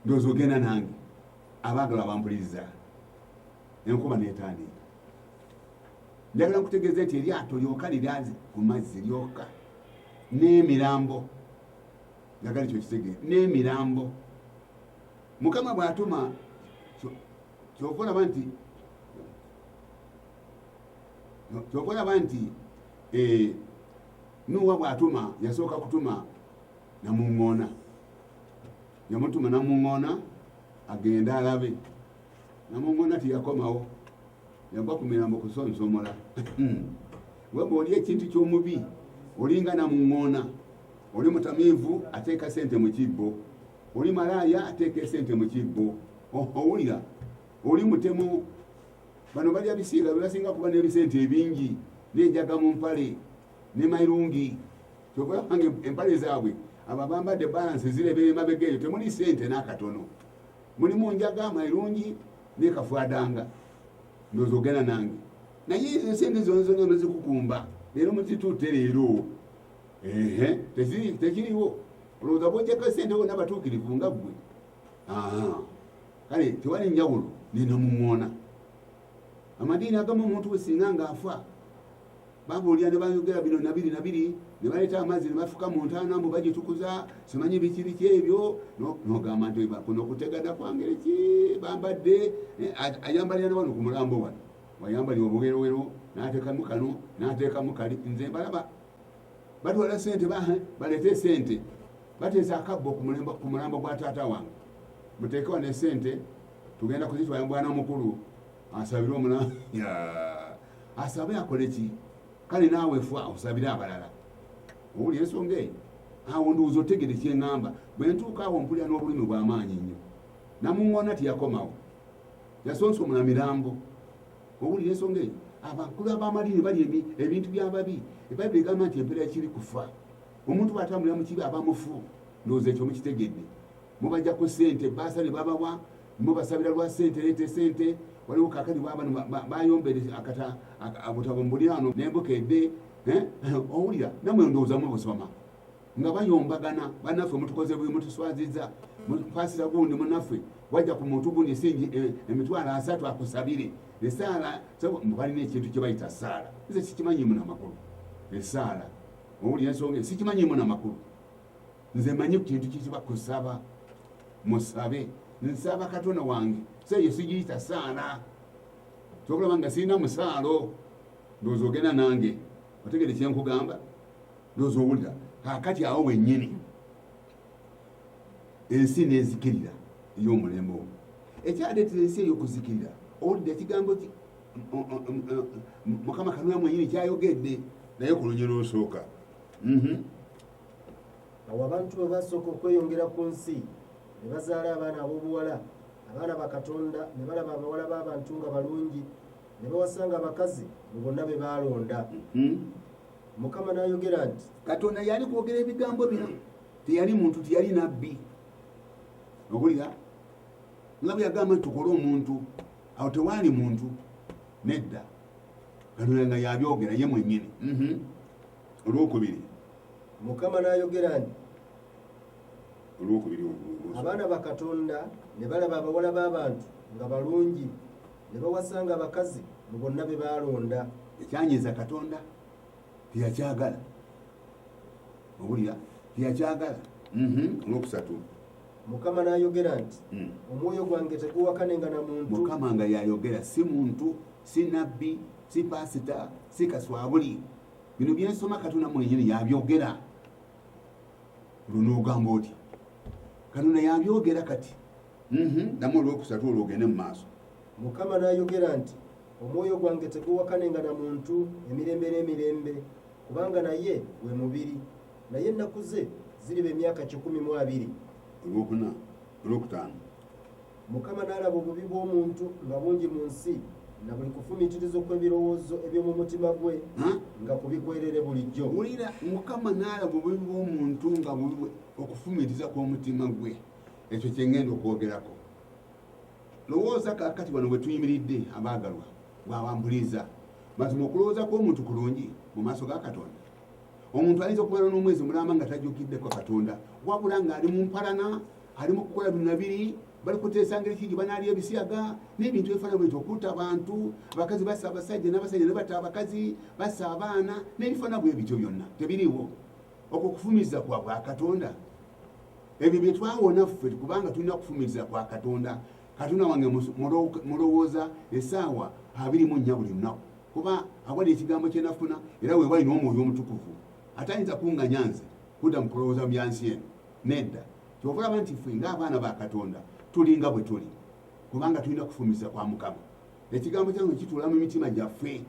ndowooza ogenda nange abaagala abampuliriza enkuba netandiika njagala nkutegeeze nti eryato lyoka liryazi ku mazzi lyoka n'emirambo njagala ekyo kitege n'emirambo mukama bw'atuma kyova olaba nti kyova olaba nti eh, nuwa bw'atuma yasooka kutuma namuŋŋoona yamutuma namuŋona agende alabe namuŋona tiyakomawo yagwa ku mirambo kusonsomola hmm. weba oli ekintu kyomubi olinga namuŋona oli mutamiivu ateeka sente mu kibbo oli malaaya ateeka esente mu kibbo owulira oli mutemu bano balya bisiiga bebasinga kuba n'ebisente ebingi nenjaga mu mpale ne mairungi kyova yabanga empale zaabwe abo abambadde balansi zirebera emabega eyo temuli sente n'akatono mulimu njaga mairungi nekafwadanga ndoza ogenda nange naye ezo sente zona zona nozikukumba leero muzitutte leero ehe tekiriwo olowooza bwojako sente bona abatuukirivu nga ggwe kale tewali njawulo nina mumwona amadiini agamu omuntu wesinga ngaafa babuulira ne bayogera bino nabiri nabiri ne baleeta amazzi ne bafuka mu ntaana mbu bagitukuza simanyi biki biki ebyo nogamba nti kuno okutegana kwangeri ki bambadde eh, ayambalira nabano ku mulambo wano wayambalira obuwerowero natekamu kano natekamu kali nze mbalaba batwala sente eh, baleete sente bateesa akabbo ku mulambo gwa taata wange muteekewa ne sente tugenda kuzitwala mubwana mukulu asabire omulambo asabe akole ki kale naawe fwa osabire abalala owuli ensonga eyo awo ndowooza otegede kyeŋŋamba bwe ntuuka awo mpulira n'obulumi bw'amaanyi nnyo namuŋŋoona teyakomawo yasonsomula mirambo owulira ensonga eyo abakulu abamadiini bali ebintu byababi ebayibuli egamba nti empeera kiri kufa omuntu bwatambulira mu kibi aba mufu ndowooza ekyo mukitegedde mubajjako sente baasa ne babawa mwe basabira lwa sente lete sente waliwo kakati bayombere akata abutabo mubulirano nembuka ede eh? owulira namwe ndowoozamu busoma nga bayombagana banaffe mutukoze buli mutuswaziza mupasira gundi munaffe wajja ku muntu gundi esingi eh, emitwalo asatu akusabire esaala balina ekintu kyebayita saala nze sikimanyi muna makulu esaala owulira ensonga sikimanyi muna makulu nze manyi kintu kikiba kusaba musabe nsaba katonda wange seyo sigiyita saala kyokulaba nga sirina musaalo ndowooza ogenda nange otegere kyenkugamba ndowooza owulira kakati awo wenyini ensi nezikirira ey'omulembe ogwo ekyaleetera ensi ey'okuzikirira owulidde ekigambo ki mukama kanula mwenyini kyayogedde naye ku lunyi lwosooka mhm. awo abantu bwe basooka okweyongera ku nsi ne bazaala abaana ab'obuwala abaana ba katonda ne balaba abawala b'abantu nga balungi ne bawasanga abakazi mu bonna be baalonda mhm. mukama n'ayogera nti katonda yali kwogera ebigambo bino teyali muntu teyali nabbi okulira nga bwe yagamba nti tukole omuntu awo tewaali muntu nedda katonda nga yabyogera ye mwennyini mhm. olwokubiri mukama n'ayogera nti olwokubiri abaana bakatonda ne balaba abawala b'abantu nga balungi ne bawasanga abakazi mu bonna be baalonda ekyanyiza katonda teyakyagala owulira teyakyagala mhm. olwokusatu mukama n'ayogera nti hmm. omwoyo gwange teguwakanenga na muntu mukama nga yayogera si muntu si nabbi si pasita si kaswabuli bino byensoma katonda mwenyini yabyogera lunoogamba otya katonda yabyogera kati mhm, namu olwokusatu olwo ogende mu maaso mukama nayogera nti omwoyo gwange teguwakanenga na muntu emirembe n'emirembe kubanga naye we mubiri naye ennaku ze ziriba emyaka kikumi mu abiri olwokuna olwokutaano Mukama n'alaba obubi bw'omuntu nga bungi mu nsi, na buli kufumiitiriza okw'ebirowoozo eby'omu mutima gwe nga ku bigwerere bulijjo. Wulira, Mukama n'alaba obubi bw'omuntu nga bubi bwe, okufumiitiriza kw'omutima gwe. Ekyo kye ŋŋenda okwogerako. Lowooza kaakati wano we tuyimiridde, abaagalwa, bw'aba mpuliriza. Mazima okulowooza kw'omuntu kulungi mu maaso ga Katonda? Omuntu ayinza okumala n'omwezi mulamba nga tajjukiddeko Katonda, wabula ng'ali mu mpalana ali mu kukola bino nabiri bali kuteesa ngeri ki gye banaalya ebisiyaga n'ebintu ebifaana bwekyo okutta abantu abakazi basa abasajja n'abasajja ne batta abakazi basa abaana n'ebifaana bwe bityo byonna tebiriiwo okwo kufumiza kwa bwa katonda ebyo bye twawona ffe kubanga tulina kufumiza kwa katonda katonda wange mulowooza esaawa abiri mu nnya buli lunaku kuba awali ekigambo kyenafuna era wewali n'omwoyo omutukuvu ate ayinza kunganya nze kudda mu kulowooza mu byansi eno Nedda. Kyova olaba nti ffe ng'abaana ba Katonda tulinga bwe tuli, kubanga tulina kufumiza kwa Mukama. Ekigambo kyange kituula mu mitima gyaffe.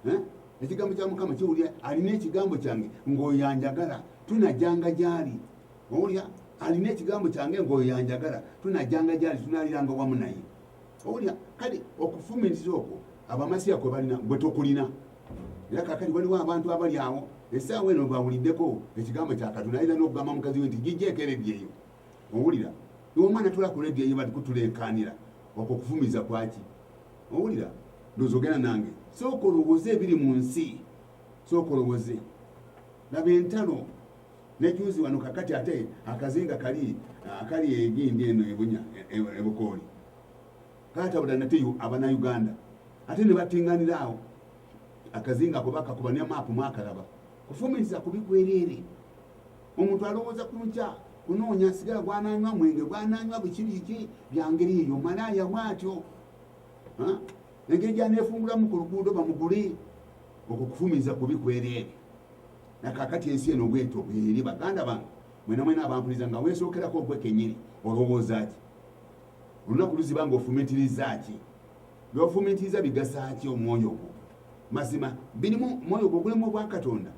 Eh? Ekigambo kya Mukama kiwulira, alina ekigambo kyange ng'oyo yanjagala, tunajanga gy'ali. Owulira? Alina ekigambo kyange ng'oyo yanjagala, tunajanga gy'ali, tunaaliranga wamu naye. Owulira? Kale okufumiriza okwo abamasiya kwe balina, gwe tokulina. era kakati waliwo abantu abali awo esaawa eno bawuliddeko ekigambo kya katonda ayinza n'okugamba mukazi we nti gijjeeko ereddi eyo owulira omwana tula ku rediyo eyo bati kutulenkanira okwo kufumiza kwaki owulira ndozi ogenda nange sooka olowooze ebiri mu nsi sooka olowooze laba entalo nejuzi wano kakati ate akazinga kali akali egindi eno ebunya e, e, ebukooli katabula nate abana uganda ate nebatinganira awo akazinga ako bakakuba ne maapu mwakalaba kufumiriza kubi kwereere omuntu alowooza ku nkya kunoonya sigala gwananywa mwenge gwananywa biki biki byangeri eyo malaaya bwatyo engeri gyaneefungulamu ku luguudo bamugule okwo kufumiriza kubi kwereere nakakati ensi eno bwetyo bweri baganda bange mwena mwena abampuliza nga weesookerako ogwekenyini olowooza ki olunaku luziba nga ofumitiriza ki byofumitiriza bigasa ki omwoyo gwo mazima birimu mwoyo gwo gulimu obwakatonda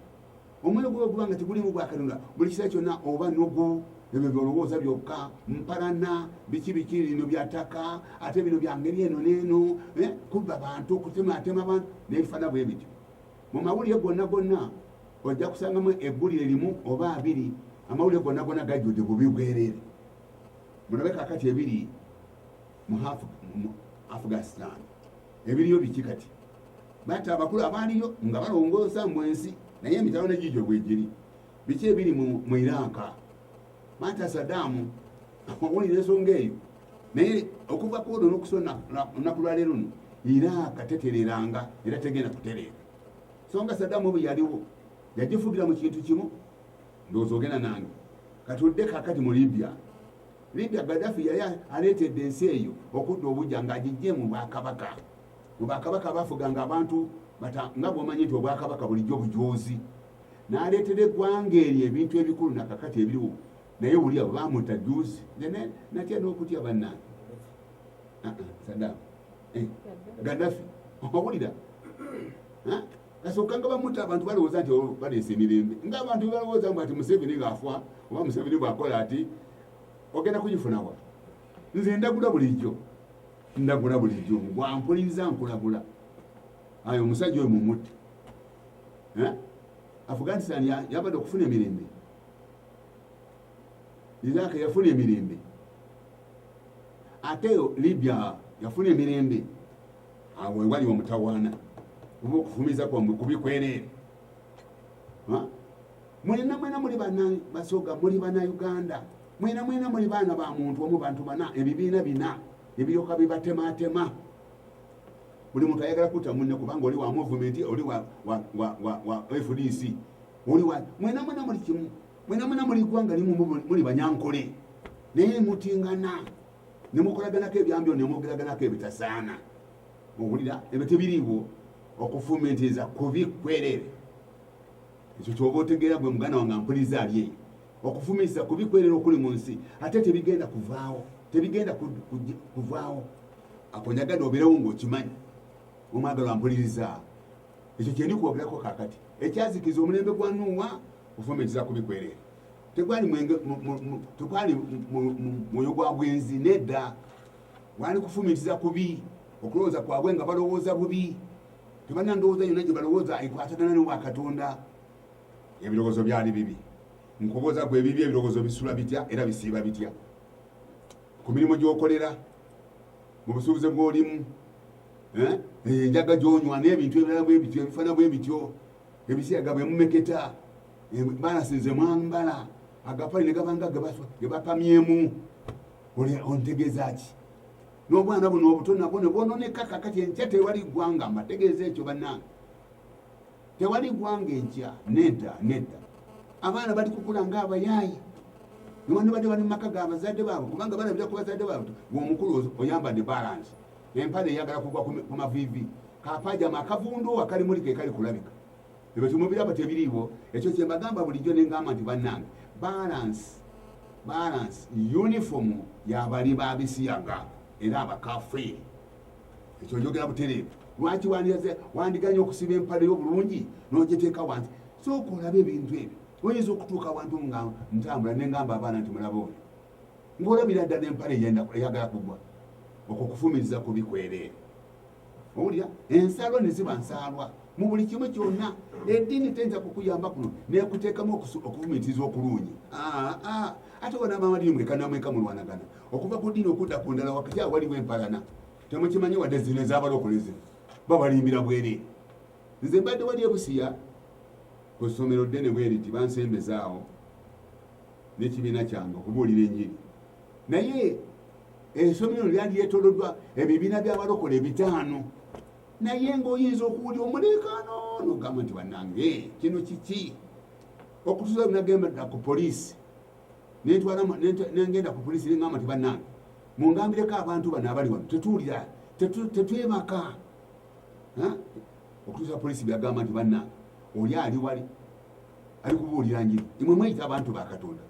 omwoyo gwo oguba nga tegulimu bwakatonda buli kiseera kyonna oba nogo ebyo byolowooza byokka mpalana biki biki lino byataka ate bino byangeri eno neeno eh, kubba bantu okutematema bantu nebifana bwe bityo mu mawulire gonna gonna ojja kusangamu eggulire limu oba abiri amawulire gonna gonna gajjudde bubi bwerere mulabe kakati ebiri mu afghanistan ebiriyo biki kati bata abakulu abaaliyo nga balongoosa mu ensi naye emitalo negijo bwegiri biki ebiri mu iranka bata sadamu owulira ensonga eyo naye okuva kuodo nokusona olunaku lwaleero no iraaka tetereranga era tegenda kutereera songa sadamu obu yaliwo yagifugira mu kintu kimu ndowooza ogenda nange kati odde kakati mu libya libya gadafi yali aleetedde ensi eyo okudda obujja ngaagijje mu bwakabaka mu bakabaka bafuganga abantu nga bwomanyi nti obwakabaka bulijjo bujoozi naleetera eggwanga eryo ebintu ebikulu nakakati ebiriwo naye wulya bamuta juzi natya nokutya bannange ah, ah, sadam eh, gadafi owulira Nasooka nga bamuta abantu balowooza nti oh, baleese emirembe ng'abantu bebalowooza mbu ati Museveni ng'afa oba Museveni bw'akola ati ogenda kugifunawa nze ndagula bulijjo ndagula bulijjo gwampuliriza nkulagula ayo omusajja oyo mumutte eh? afghanistan yabadde okufuna emirembe iraq yafuna emirembe ate libya yafuna emirembe awo wewali omutawaana oba okufumiza kwamwe kubi kwereere mwena mwena muli bana basoga muli bana uganda mwena mwena muli baana ba muntu omu bantu bana ebibiina bina ebiyoka bibatematema buli muntu ayagala kuta munne kubanga oli wa movement oli wa, wa, wa, wa, wa fdc oli wa mwena mwena muli kimu mwena mwena muli gwanga limu muli banyankole naye mutingana ne mukolaganako ebyambyo ne mwogeraganako ebitasaana owulira ebyo tebiriiwo okufumiitiriza kubi kwerere ekyo kyoba otegeera gwe muganda wange ampuliza ali eyo okufumiitiriza kubi kwerere okuli mu nsi ate tebigenda kuvaawo tebigenda kuvaawo akonyagade obeerewo ngaokimanyi omwagalo ampuliriza ekyo kyendi kwogeraku kakati ekyazikiza omulembe gwa nuuwa ofumiitiriza kubi kwerere tegwali mwenge tegwali mwoyo gwa bwenzi nedda gwali kufumitiza kubi okulowooza kwabwe nga balowooza bubi tebalina ndowooza yonna gye balowooza ekwatagana ne wa katonda ebirowoozo byali bibi nkubuuza gwe ebibi ebirowoozo bisula bitya era bisiiba bitya ku mirimu gy'okolera mu busuubuzi bw'olimu eh? enjaga gy'onywa n'ebintu ebirala bwe bityo ebifaana bwe bityo ebisiyaga bwe mumeketa embalasi nze mwambala agapale ne gabanga ge bapamyemu ontegeeza ki n'obwana buno obuto nabwo ne bwononeka kakati enkya tewali ggwanga mbategeeza ekyo bannange tewali ggwanga enkya nedda nedda abaana bali kukula nga abayaaye newandibadde bali mu maka ga bazadde baabwe kubanga balabira ku bazadde baabwe ng'omukulu oyambadde balansi empale eyagala kugwa ku maviivi kapajama akavundu akali muli ke kali kulabika Ebyo temubiraba tebiriiwo ekyo kyembagamba bulijjo nengamba nti bannange balance balance uniform yabali babisiyaga era abakafiiri ekyo njogera butereevu lwaki wandiganye okusiba empale yobulungi nogiteeka wansi sooka olabe ebintu ebyo oyinza okutuuka wantu nga ntambula nengamba abaana nti mulaba oyo ngaolabira ddala empale eyagala kugwa okwo kufumiza kubikwereere owulira ensaalwa ne ziba nsaalwa mu buli kimu kyonna eddiini teyinza kukuyamba kuno nekuteekamu okuvumitiriza okulungi ah, ah. ate wanamamadini mwekanamweka mulwanagana okuva ku ddiini okudda ku ndala wakati awaliwo empalana temukimanyi wadde zino ezabalokoleze babalimbira bwere nze mbadde wali ebusiya ku ssomero ddene bweriti bansembezaawo n'ekibiina kyange okubuulira enjiri naye esomero lino lyali lyetoloddwa ebibiina by'abalokola ebitaano naye ng'oyinza okuwulya omuleekaano nogamba nti banange kino kiki okutuza nagemba ku poliisi nengenda ku poliisi nengamba nti banange mungambireko abantu bano abali wano tetuwulira tetwebaka okutuusa poliisi byagamba nti banange oli ali wali ali kubuulira njiri imwe mweyita abantu ba katonda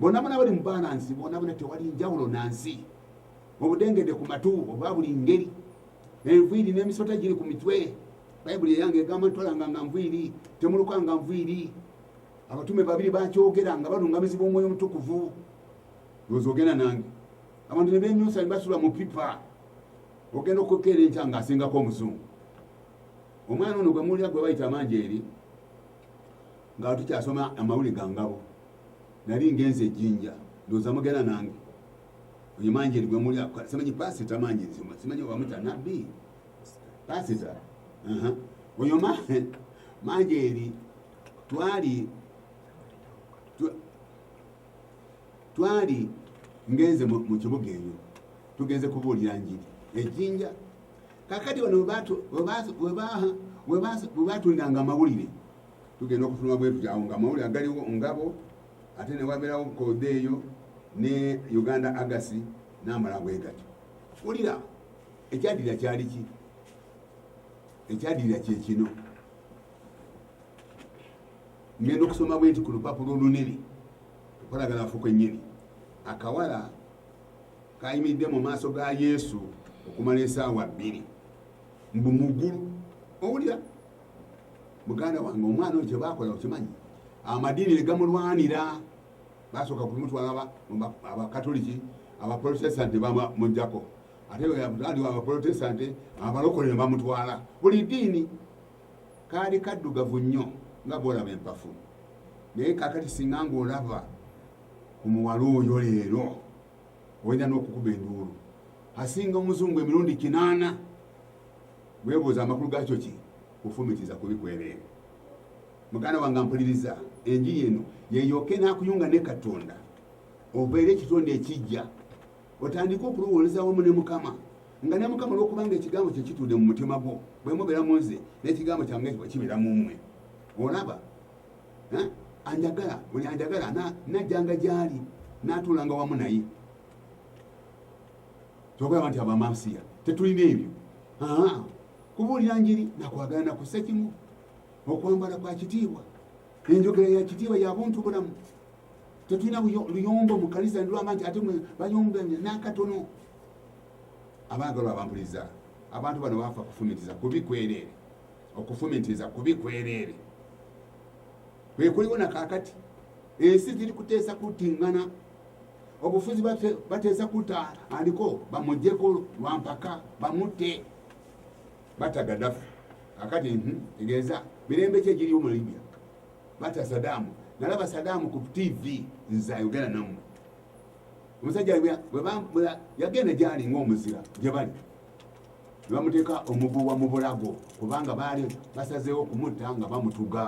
bonabona bali mubalansi bonabona tewali njawulo nansi obudengede ku matu oba buli ngeri enviiri n'emisota giri ku mitwe bayibuli eyange egamba ntwalanga nga nviiri temuluka nga nviiri abatume babiri bakyogera nga balungamizibwa omwoyo omutukuvu oza ogenda nange abantu nebenyusa nebasula mu pipa ogenda okukeera enkya nga asingako omuzungu omwana ono gwemuwulira gwe bayita amanji eri nga tukyasoma amawuli gangabo nali ngenze ejinja ndoza mugenda nange oyo manjeri gwe muli simanyi pasita manjeri simanyi wamuta nabbi pasita oyo manjeri twali twali ngenze mu kibuga eyo tugenze kubuulira njiri ejinja kakati wano webatundanga amawulire Tugenda okufuluma bwe tutyo awo ng'amawulire agaliwo ngabo ate ne wabeerawo koode eyo ne Uganda Agasi n'amala bwe gatyo. Wulira ekyadirira kyali ki? Ekyadirira kye kino. Ngenda okusoma bwe nti ku lupapula olunene okolagala afuko ennyini akawala kayimiridde mu maaso ga Yesu okumala esaawa bbiri mbu mugulu owulira muganda wange omwana oyo kyebakola okimanyi amadiini negamulwanira basooka kumutwala abakatoliki abaprotestanti bamujako ate aliwo abaprotestanti abalokole nebamutwala buli diini kaali kaddugavu nnyo nga bwolaba empafu naye kakati singa ngaolaba ku muwala oyo leero olina n'okukuba enduulu asinga omuzungu emirundi kinaana Weebuuza amakulu gaakyo ki? Kufumitiza kubi kwereere. Muganda wange ampuliriza, enjiri eno yeeyooka enaakuyunga ne Katonda obeere ekitonde ekijja, otandike okulowoleza wamu ne Mukama nga ne Mukama olw'okubanga ekigambo kye kituudde mu mutima gwo, bwe mubeera mu nze n'ekigambo kyange kibeera mu mmwe. Olaba, eh? anjagala buli anjagala najjanga gy'ali n'atuulanga wamu naye. kyogamba nti abamasiya tetulina ebyo kubuulira njiri nakwagala nakusa kimu okwambala kwa kitiibwa enjogera ya kitiibwa ya buntu bulamu tetulina luyombo mu kanisa nilwanga nti ate bayombe nakatono abaagalwa abampuliza abantu bano bafa kufumitiza kubi kwereere okufumitiza kubi kwereere kwekuliwo nakakati ensi ziri kuteesa kutingana obufuzi bateesa kuta aliko bamujeko lwampaka bamutte bata gadafu kakati mhm, tegeeza mirembe ki egiriwo mu libya bata sadamu nalaba sadamu ku tv nze ayogera namu omusajja yagenda gyali ngaomuzira gyebali nebamuteeka omuguwa mu bulago kubanga baali basazeewo okumutta nga bamutuga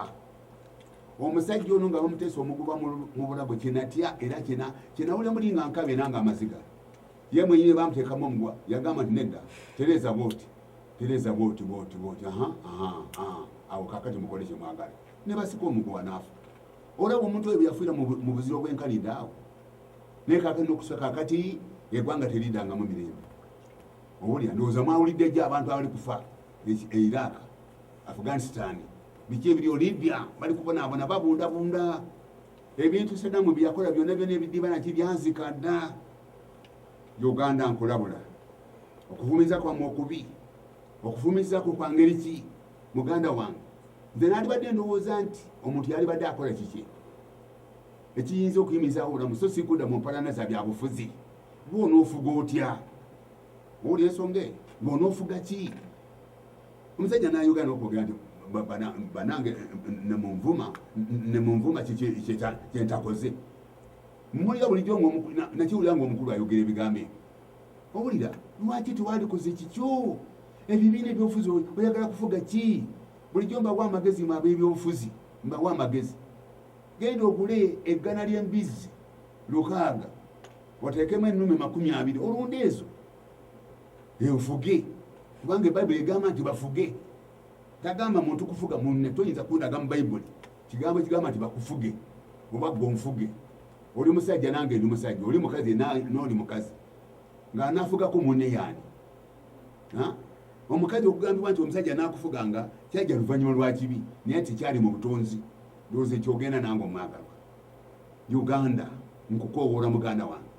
omusajja ono nga bamuteesa omuguba mu bulago kyenatya era kyenawule muli nga nkaba era nga amaziga ye mwenyini bamutekamu omugwa yagamba nti nedda tereeza bwoti tereeza bwoti bwoti bwoti awo kakati mukole kyemwagala ne basika omuguwa naafu olaba omuntu oyo bweyafuira mu buziro bwenkanidde awo naye kakati nokusa kakati egwanga teridangamu mirembe owulira ndowooza mwawulidde gyo abantu abali kufa eiraaka e afghanistan biki ebiriyo libya bali kubonaabona babundabunda ebintu sadamu byeyakola byonna byona ebidibana nti byazika dda uganda nkulabula okuvumiza kwamu okubi okuvumiza kwo kwangeri ki muganda wange nze nalibadde ndowooza nti omuntu yalibadde akola kiki ekiyinza okuyimizawo obulamu so sikuda mu mpalana za byabufuzi bwona ofuga otya owulira ensonga eyo ng'onoofuga ki omusajja nayogera nokwogera nti banange nemunvuma nemunvuma kyentakoze muwulira bulijjo nakiwulira ngaomukulu ayogera ebigambo ebyo owulira lwaki tewalikoze kikyo ebibiina ebyobufuzi oyagala kufuga ki bulijjo mbawa amagezi mu ab'ebyobufuzi mbawa amagezi genda ogule eggana ly'embizzi lukaaga oteekemu ennume makumi abiri olunda ezo enfuge kubanga ebayibuli egamba nti bafuge tagamba muntu kufuga munne toyinza kundaga mu bayibuli kigambo kigamba nti bakufuge oba gwe onfuge oli musajja nange ndi musajja oli mukazi nooli mukazi nga anafugako munne yaani omukazi okugambibwa nti omusajja nakufuga nga kyajja luvanyuma lwakibi naye tekyali mu butonzi ndowooza ekyogenda nange omwagalwa uganda nkukowoola muganda wange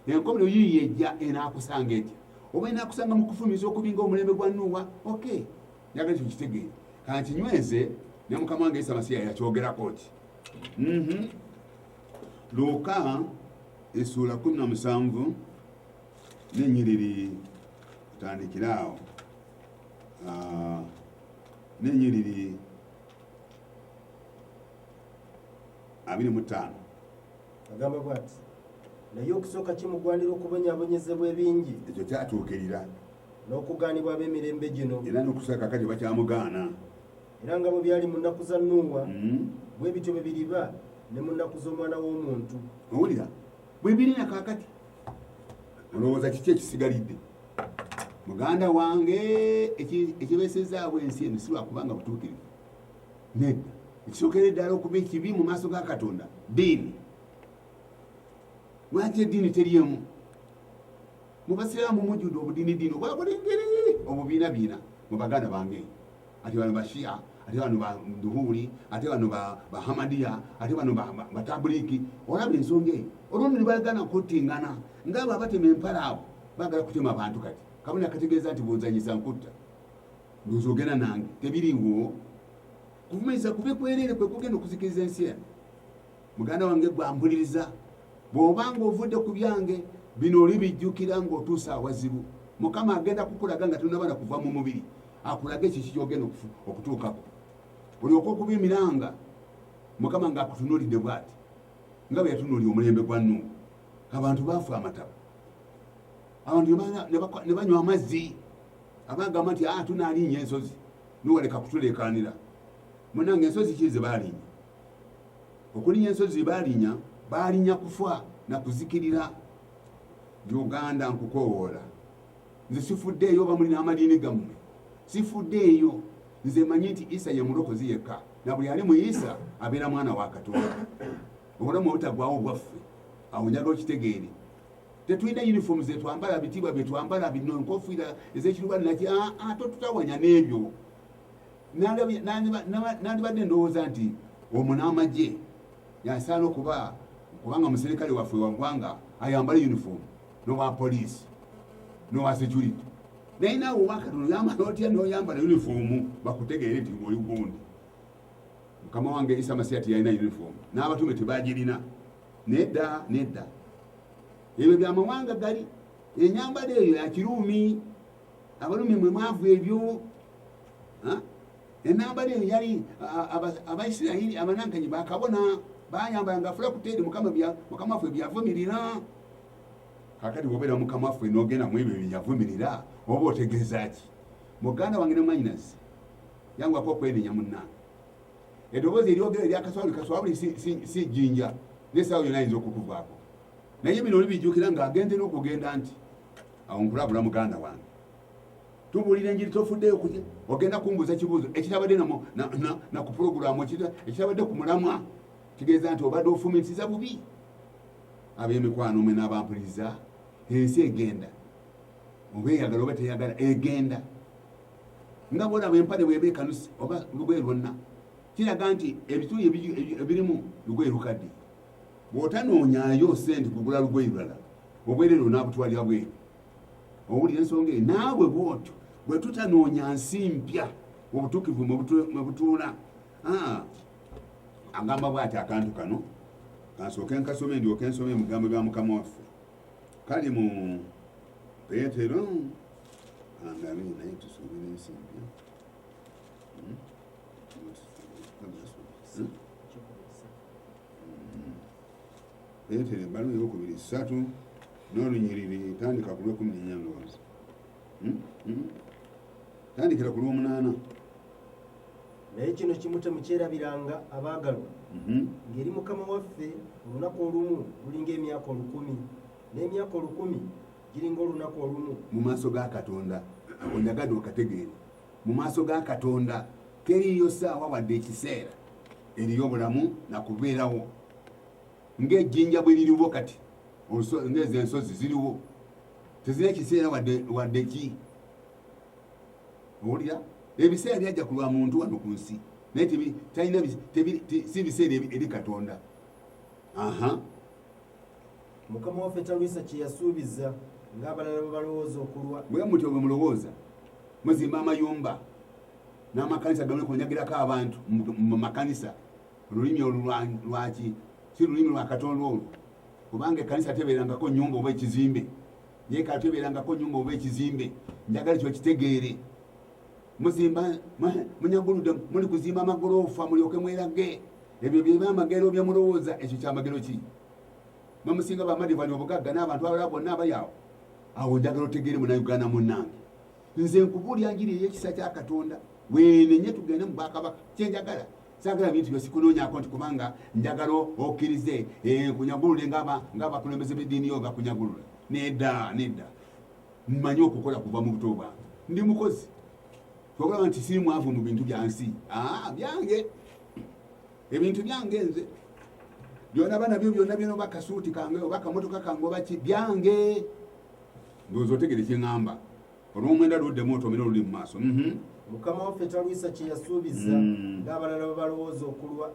enkomero yiiyo ejja enaakusanga etya oba enaakusanga mu kufumiza okulinga omulembe gwa nuuwa ok nyaga ekyo kitegeere kanti nyweze ne mukama wange isa masiya yakyogerako ki mhm. luuka esuula kumi na musanvu nenyiriri tandikire awo ah, nenyiriri abiri mu ttaano agamba bwati naye okusooka kimugwanira okubonyabonyezebwa ebingi ekyo kyatuukirira n'okugaanibwa ab'emirembe gino era n'okusa kakati bakyamugaana era nga bwe byali mu nnaku za nuuwa mm-hmm. bwe bityo bwe biriba ne mu nnaku z'omwana w'omuntu owulira bwe biri na kakati olowooza kiki ekisigalidde muganda wange ekibeesezaabwe ensi eno si lwakubanga butuukirivu nedda ekisookera eddala okuba ekibi mu maaso ga katonda diini lwaki eddiini teryemu mubasiraamu mujudde obudiini diini obwakulengeri obubiina biina mu baganda bange ati bano bashia ate bano baduhuli ate bano bahamadiya ate bano batabuliki olaba ensonga eyo olundi nibagana kuttingana ngaabo abatema empala abo bagala kutema abantu kati kabona kategeeza nti bunzanyisa nkutta Nzogera nange tebiriwo kuvumiriza kube kwerere kwe kugenda okuzikiriza ensi eno muganda wange gwampuliriza bwoba nga ovudde ku byange bino oli bijjukira ngaotuusa awazibu mukama agenda kukulaga nga tonabana kuva mu mubiri akulage ekiki kyogenda okutuukako olyoka okuba emiranga mukama nga akutunulidde bwati nga bwe yatunuli omulembe gwa nuuhu abantu baafa amataba abantu ne banywa amazzi abagamba nti ah, tunalinya ensozi niwaleka kutulekanira munange ensozi ki zebalinya okulinya ensozi balinya balinya kufa nakuzikirira uganda nkukowoola nze sifuddeeyo bamuli n'amadiini gammwe sifuddeeyo nze manyi nti isa ye mulokozi yekka na buli ali mu isa abeera mwana wa katonda obulamu obutagwawo bwaffe awo njaga okitegeere tetulina uniform zetwambala bitiibwa byetwambala bino enkofiira ezekirubaani naki aa ah, ah, totutawanya n'ebyo nandibadde ndowooza nti omu n'amagye yasaana okuba kubanga muserikale waffe wagwanga ayambala uniform nowa poliisi nowa security naye naawe owakatono yambala otya noyambala uniform bakutegeere nti oli gundi mukama wange isa masiya tiyalina uniform n'abatume tebagirina nedda nedda ebyo byamawanga gali enyambala eyo yakiruumi abalumi mwe mwavu ebyo enambala eyo yali abaisirairi abanankanyi bakabona bayambala nga afula kuteeri mukama waffe byavumirira kakati wobeera mukama waffe nogenda mu ebyo byeyavumirira oba otegeeza ki muganda wange nemwanyinazi yangwako okwenenya munnange edoboozi eryogera erya kaswabuli kaswabuli si jjinja nesaawo yona ayinza okukuvaako naye bino olibijjukira nga agenze n'okugenda nti awo nkulabula muganda wange tubuulira enjiri tofuddeyo kuye ogenda kumbuuza ekibuuzo ekirabadde naku pulogulamu ekirabadde ku mulamwa kitegeeza nti obadde ofumitisiza bubi ab'emikwano mwe n'abampuliriza ensi egenda oba eyagala oba teyagala egenda nga bwolaba empale bweba ekanuse oba lugoye lwonna kiraga nti ebituli ebirimu lugoye lukadde bwotanoonyayo sente kugula lugoye lulala obwerere onabutwalira bweru owulira ensonga eyo naawe bwotyo bwe tutanoonya nsi mpya obutuukivu mwe butuula ah, agamba bwati akantu kano kansooke nkasome ndyoke nsome ebigambo bya mukama waffe kali mu petero Angalie naye tusubire ensi mpya. Hmm? Hmm? Peetero ebbaluwa eyokubiri ssatu n'olunyiriri tandika ku lwekumi nenya ndowooza hmm? tandikira ku lwomunaana naye kino kimu temukyerabiranga abaagalwa mhm. ngeri mukama waffe olunaku olumu lulinga emyaka olukumi n'emyaka olukumi giringa olunaku olumu mu maaso ga katonda ako njagadde okategeere mu maaso ga katonda teriiyo saawa wadde ekiseera eriyo obulamu nakubeerawo ngaejjinja bwe liriwo kati ngeezo ensozi ziriwo tezirina ekiseera wadde ki owulira ebiseera byajja ku lwa muntu wano ku nsi naye talina si biseera eri katonda aha Mukama waffe talwisa kye yasuubiza ng'abalala bwe balowooza okulwa. Bwe mutyo bwe mulowooza muzimba amayumba n'amakanisa gamuli kunyagirako abantu mu makanisa olulimi olulwaki si lulimi lwa katonda olwo kubanga ekkanisa tebeerangako nyumba oba ekizimbe yeekala tebeerangako nyumba oba ekizimbe njagala ekyo kitegeere muzimba munyaguludde muli kuzimba amagoloofa mulyoke mwerage ebyo byeba amagero byemulowooza ekyo kyamagero ki mamusinga bamadivani obugagga n'abantu abalala bonna abayaawo awo njagala otegeere munauganda munange nze nkubuulya njiri eyekisa kya katonda wenenye tugende mu bwakabaka kyenjagala sagala bintu byosikunonyako nti kubanga njagala okkirize eh, nkunyagulule ngaabakulembeze b'eddiini yo bakunyagulula nedda nedda mmanyi okukola kuva mu buto bwange ndi mukozi ogamba nti siri mwavu mu bintu byansi ah, byange ebintu byange nze byona bana byo byona byona oba kasuuti kange oba kamotoka kange oba ki byange ndowooza otegere kyeŋamba olwomwenda luddemu otomera oluli mu maaso mhm. mukama waffe talwisa kyeyasuubiza mm. ngaabalala babalowooza okulwa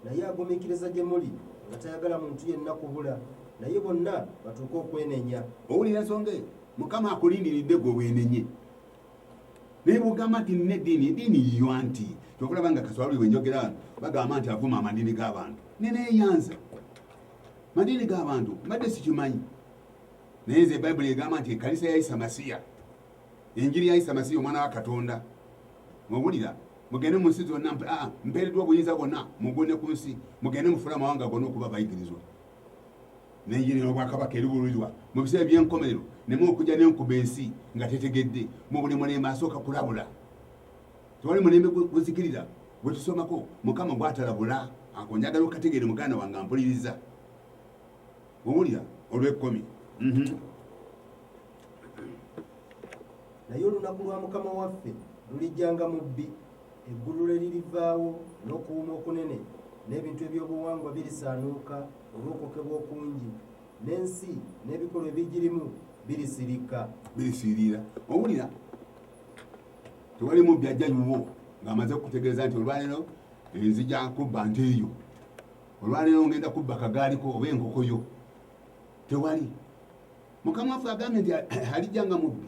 naye agumikiriza gye muli nga tayagala muntu yenna kubula naye bonna batuuke okwenenya owulira nsonga eyo mukama akulindiridde gwe wenenye naye bwogamba nti nina eddiini eddiini yiyo anti kyokulaba nga kaswaluli wenjogera wano bagamba nti avuma amadiini g'abantu neneeyanza madiini g'abantu mbadde sikimanyi naye nze bayibuli egamba nti ekanisa ya isa masiya enjiri ya isa masiya omwana wa katonda mubulira mugende mu nsi zonna ah, mpeereddwa obuyinza bwonna mugune ku nsi mugende mufula amawanga gonna okuba bayigirizwa naye yene obwakabaka eriwululirwa mu biseera ebyenkomerero nemu okujja nenkuba ensi nga tetegedde mu buli mulembe asooka kulabula tewali mulembe guzikirira gwetusomako mukama gwatalabula akonjagala okategeere muganda wange ampuliriza owulira olwekkomi mhm. naye olunaku lwa mukama waffe lulijjanga mu bbi eggulu lwe lirivaawo n'okuwuma okunene n'ebintu ebyobuwangwa birisaanuuka olw'okwokebwa okungi n'ensi n'ebikolwa ebigirimu birisirika birisirira owulira tewali mubbi ajja nyuwo ng'amaze okutegeeza nti olwaleero enzija kubba nte eyo olwaleero ngenda kubba kagaaliko oba enkokoyo tewali mukama waffe agambye nti alijja nga mubbi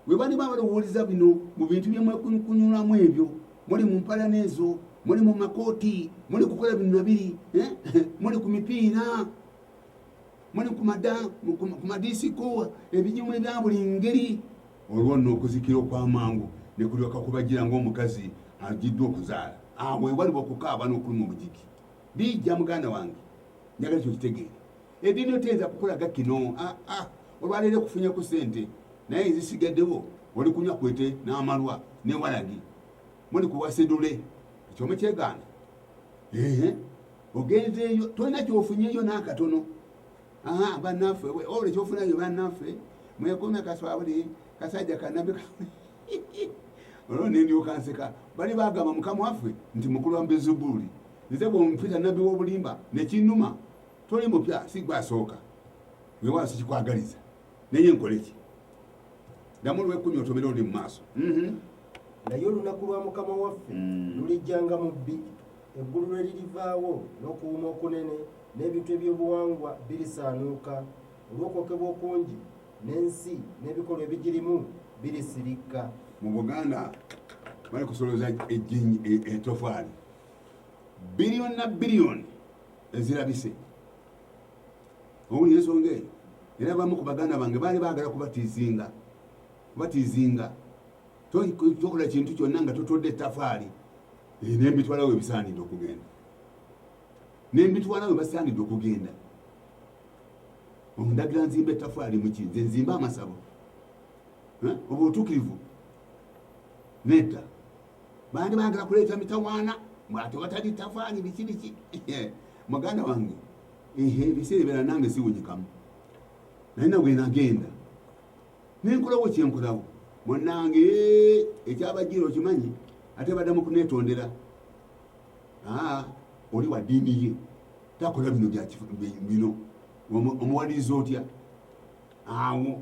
webaliba balowooza bino mu bintu byemwekunyulamu ebyo muli mu mpalana ezo muli mu makooti muli kukola bino nabiri eh? muli ku mipiira muli ku madisiko ebijimu ebya buli ngeri olwo nno okuzikira okwamangu ne kulyoka kubagira ng'omukazi agiddwa okuzaala awo ewaliba okukaaba n'okuluma obujiki bijja muganda wange njagala kyo kitegeere Edini oteyinza kukulaga kino ah, ah. olwaleero ekufunye ku sente naye ezisigaddewo oli kunywa kwete n'amalwa ne walagi muli kuwasedule ekyomu kyegaana ehe ogenzeeyo tolina kyofunyeyo n'akatono aha bannaffe ola ekyofunayo bannaffe mwekomya kaswabuli kasajja kanabi olwo nendyoka nseka bali bagamba mukama waffe nti mukulu wa mbezubuuli nze bwompita nabbi w'obulimba nekinuma toli mupya si gwe asooka weewaawo sikikwagaliza naye nkole ki damu lwekumi otomera olundi mu maaso mhm. naye olunaku lwa mukama waffe mm. lulijjanga mu bbi eggulu lwe lirivaawo n'okuwuma okunene n'ebintu ebyobuwangwa birisaanuuka olw'okwokebwa okungi n'ensi n'ebikolwa ebigirimu birisirikka mu buganda bali kusoloza ejjinyi e, etofaali biliyoni na biliyoni ezirabise owulira ensonga eyo era bamu ku baganda bange baali baagala kubatizinga kubatizinga tokola kintu kyonna nga totodde etafaali eh, nembitwala we bisaanidde okugenda nembitwala we basaanidde okugenda ondagira nzimba etafaali muki nze nzimba amasabo eh, oba otukirivu nedda bandi bagala kuleeta mitawaana mwate watali tafaali biki biki muganda wange ebiseera ebeera nange siwunyikamu naye nabwe nagenda nenkolawo kyenkolawo munange ekyabajira okimanyi ate badamu kunetondera ah, oli wa diini ye takola bino bino omuwaliriza otya awo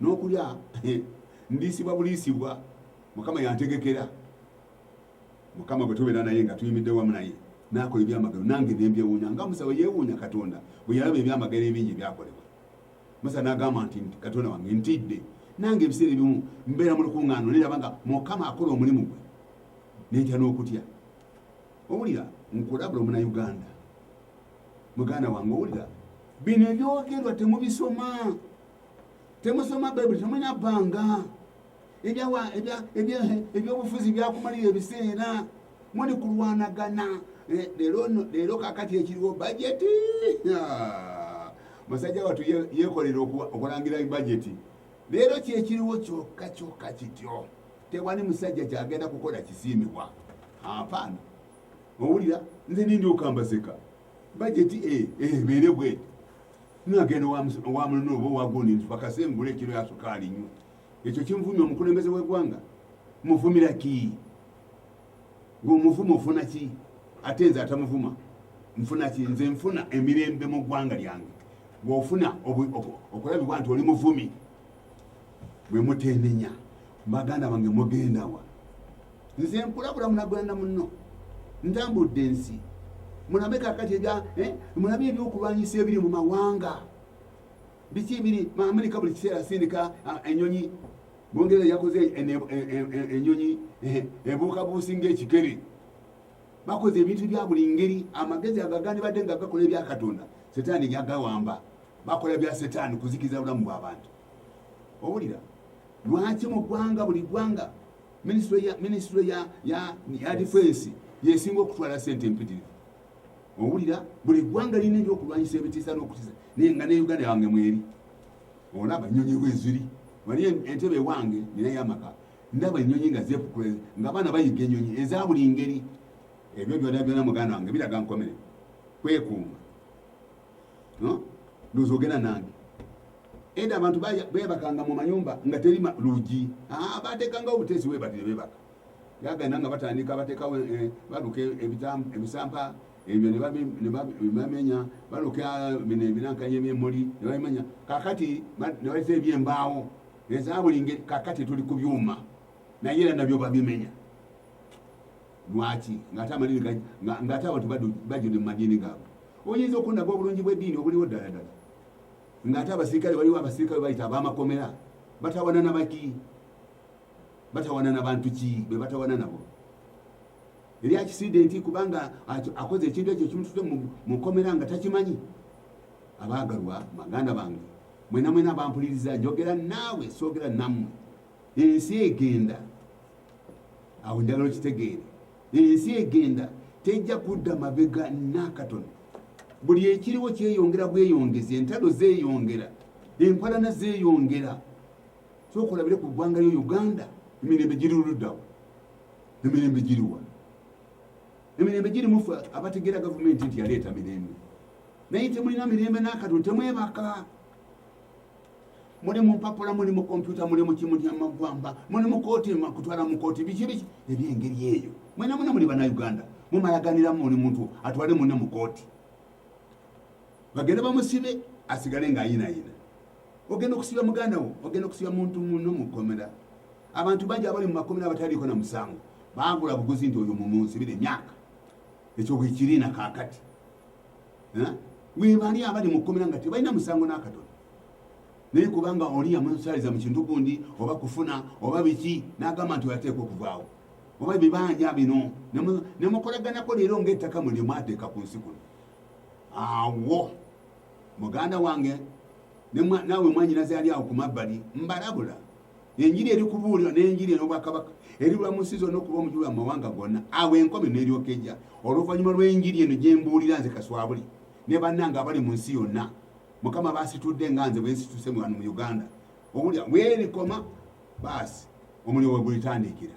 N'okulya ndiisibwa buliisibwa Mukama yantegekera. Mukama bwe tubeera naye nga tuyimidde wamu naye n'akola ebyamagero nange ne mbyewuunya nga Musa bwe yeewuunya Katonda bwe yalaba ebyamagero ebingi ebyakolebwa. Musa n'agamba nti Katonda wange ntidde nange ebiseera ebimu mbeera mu lukuŋŋaano naye laba nga Mukama akola omulimu gwe ne ntya n'okutya. Owulira nkulabula omunayuganda muganda wange owulira bino ebyogerwa temubisoma temusoma bayibuli temulina bbanga ebyobufuzi byakumalira ebiseera muli kulwanagana eh, leero kakati ekiriwo bajeti ah, musajja watu yekolera okulangira bajeti leero kyekiriwo kyokka kyokka kityo tewali musajja kyagenda kukola kisiimibwa apaana owulira nze nindi okambaseka bajeti eh, eh, ebeere bweti nagenda owa mulina oba owagundi nti bakasengula ekiro yasukaali nnyo ekyo kimuvumya omukulembeze wegwanga muvumira ki ngaomuvuma ofuna ki ate nze atamuvuma nfuna ki nze nfuna emirembe mu ggwanga lyange bwofuna okulabibwa nti oli muvumi bwemutenenya baganda bange mugendawa nze nkulabula munagwanda munno ntambudde ensi mulabe kakati ebya eh, mulabe ebyokulwanyisa ebiri mu mawanga biki ebiri maamerika buli kiseera asindika ah, enyonyi bungereza yakoze enyonyi eh, ebuuka buusi ngaekikere bakoze ebintu bya buli ngeri amagezi agagani badde nga gakola ebya katonda setaani yagawamba bakola bya setaani kuzikiza bulamu bwabantu owulira lwaki mu ggwanga buli ggwanga minisitule ya difensi yesinga okutwala sente empitirivu owulira buli ggwanga lirina ebyokulwanyisa ebitiisa n'okutiza naye nga ne uganda wange mweri olaba nyonyi weziri wali entebe ewange ninayo amaka ndaba enyonyi nga zepukula nga abaana bayiga enyonyi eza buli ngeri ebyo byona byona muganda wange biraga nkomere kwekuuma nozogera nange Eda abantu bebakanga mu mayumba nga teri lugi ah, batekanga obutesi webati nebebaka yagana nga batandika batekawo eh, baluka ebisampa ebyo nebamenya baluka bino eh, ebinankanya ebyemuli nebamenya kakati nebaisa ebyembaawo ezabuli ngeri kakati tuli ku byuma naye era nabyo babimenya lwaki ngaate amalini ngaate abantu bajune mu madiini gaabwe oyinza okundaga obulungi bw'eddiini obuliwo ddala ddala ng'ate abasirikale waliwo abasirikale bayita abamakomera batawana nabaki batawana nabantu ki bebatawana nabo eri akisidenti kubanga akoze ekintu ekyo kimutute mukomera nga takimanyi abagalwa maganda bange mwena mwena bampuliriza njogera naawe soogera nammwe ensi egenda awo njagala okitegeere ensi egenda tejja kudda mabega nakatono buli ekiriwo kyeyongera bweyongezi entalo zeyongera enkolana zeyongera sokolabire ku ggwanga lyo uganda emirembe giriruddawo emirembe giriwa emirembe giri mufe abategeera gavumenti nti yaleeta mirembe naye temulina mirembe nakatono temwebaka muli mu mpapula muli mu kompyuta muli mu kimu kyamaggwamba muli mu kooti kutwala mu kooti biki biki ebyengeri eyo mwena mwena muli banauganda mumalaganiramu muli muntu atwale mune mu kooti bagende bamusibe asigale ngaayinayina ogenda okusiba muganda wo ogenda okusiba muntu muno mukomera abantu bangi abali mumakomera abataliiko na musango bagula buguzi nti oyo mumunsibire emyaka ekyo bwekirina kakati eh? webali abali mu kkomera nga tebalina musango n'akatono naye kubanga oli yamusaliza mu kintu gundi oba kufuna oba biki n'agamba nti oyateeka okuvaawo oba ebibanja bino nemukolaganako leero ngaettaka mwe lyemwateeka ku nsi kuno awo muganda wange nawe mwanyinaze yali awo ku mabbali mbalabula enjiri eri kubuulirwa n'enjiri ey'obwakabaka eribula mu nsi zonna okuba omujulu wa mawanga gonna awo enkomi n'eryoka ejja oluvannyuma lw'enjiri eno gye mbuulira nze kaswabuli ne bannanga abali mu nsi yonna mukama baasitudde nga nze bwe nsituse mu wano mu uganda omulya weerikoma baasi omulyo we gulitandiikira